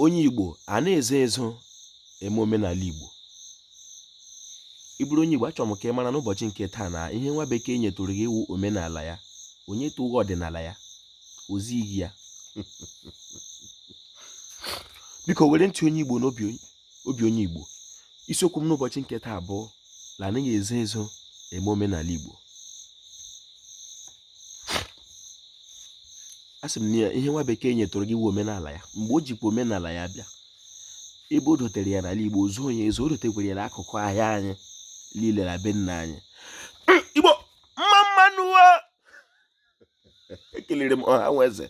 onye Igbo anaghị ezo ezo eme omenala Igbo ị bụrụ onye Igbo achọrọ m ka ị mara n'ụbọchị nke taa na ihe nwa bekee nyetụrụ gị wụ omenala ya o nyetụghị ọdịnala ya o zighị gị ya biko were ntị onye Igbo n'obi obi onye Igbo isiokwu m n'ụbọchị nke taa bụ na anaghị ezo ezo eme omenala Igbo a sị m na ihe nwa bekee nyetụrụ gị wụ omenala ya mgbe o jikwa omenala ya bịa ebe o dotere ya n'ala Igbo zuo onye ezo o dotekwere ya n'akụkụ ahịa anyị niile na be nna anyị ekelere m ọha nwe eze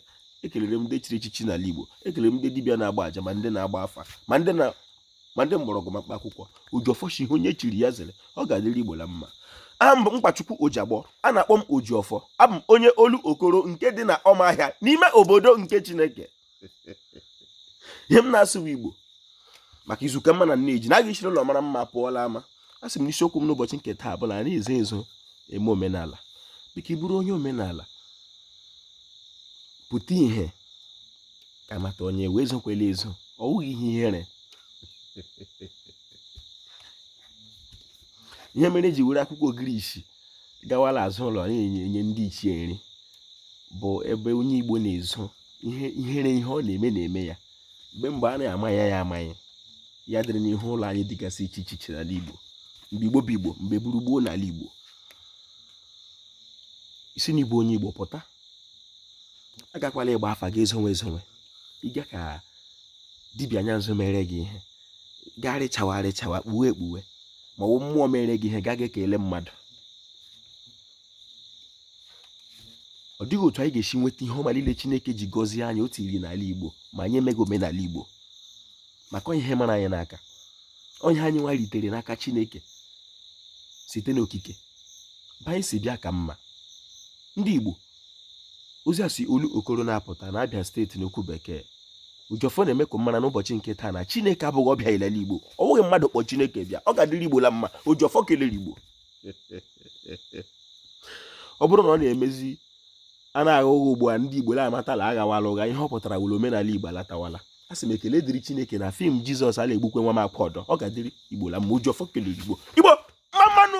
ekelere m ndị chiri echichi n'ala Igbo ekelere m ndị dibịa na-agba aja ma ndị na-agba afa ma ndị mgbọrọgwụ ma mkpa akwụkwọ Ojiọfọ shị ihe onye chiri ya zere ọ ga-adịrị Igbo na mma aha m bụ Nkwachukwu Ojiagbọ a na-akpọ m ojiọfọ abụ m onye Olokoro nke dị na ọmahịa n'ime obodo nke chineke ihe m na-asụ bụ igbo maka izu ka mma na nne ji na a ga-eshiri ụlọ mara mma pụọ l'ama a sị m na isiokwu m n'ụbọchị nke taa bụ na anaghị ezo ezo eme omenala biko ị bụrụ onye omenala pụta ihe ka a mata onye ị wụ ezokwela ezo ọ wụghị ihe ihere ihe mere eji were akwụkwọ ogirisi gawa l'azụ ụlọ na-enye ndị ichie nri bụ ebe onye Igbo na-ezo ihere ihe ọ na-eme na-eme ya mgbe mgbe a na-ama ya ya ama ya adịrị n'ihu ụlọ anyị dịgasị iche iche iche n'ala Igbo mgbe Igbo bụ Igbo mgbe gburugburu n'ala Igbo ị sị na ị bụ onye Igbo pụta agakwala ịgba afa gị ezowe ezowe ịga ka dibịa anya nzu mere gị ihe gaa rịchawa rịchawa kpuwe ekpuwe ma ọ wụ mmụọ mere gị ihe gaa ga ekele mmadụ ọ dịghị otu anyị ga-esi nweta ihe ọma niile Chineke ji gọzie anyị otu iri n'ala Igbo ma anyị emeghị omenala Igbo maka ihe mara anyị n'aka ihe anyị nwa ritere n'aka Chineke site n'okike ebe anyị si bịa ka mma ndị Igbo ozi a si Olokoro na-apụta na Abịa steeti n'okwu bekee Ojiọfọ na-eme ka mara n'ụbọchị nke taa na chineke abụghị ọbịa l'ala igbo ọ bụghị mmadụ kpọ chineke bịa ọ ga-adịrị igbo la mma Ojiọfọ kelere igbo ọ bụrụ na ọ na-emezi a na-agha ụgha ugbu a ndị igbo na-amatala aghawala ụgha ihe ọ pụtara wụrụ omenala igbo alatawala a sị m ekele dịrị chineke na fim jizọs ala egbukwe nwa m akwa ọdọ ọ ga-adịrị igbo la mma Ojiọfọ kelere igbo igbo mma nụ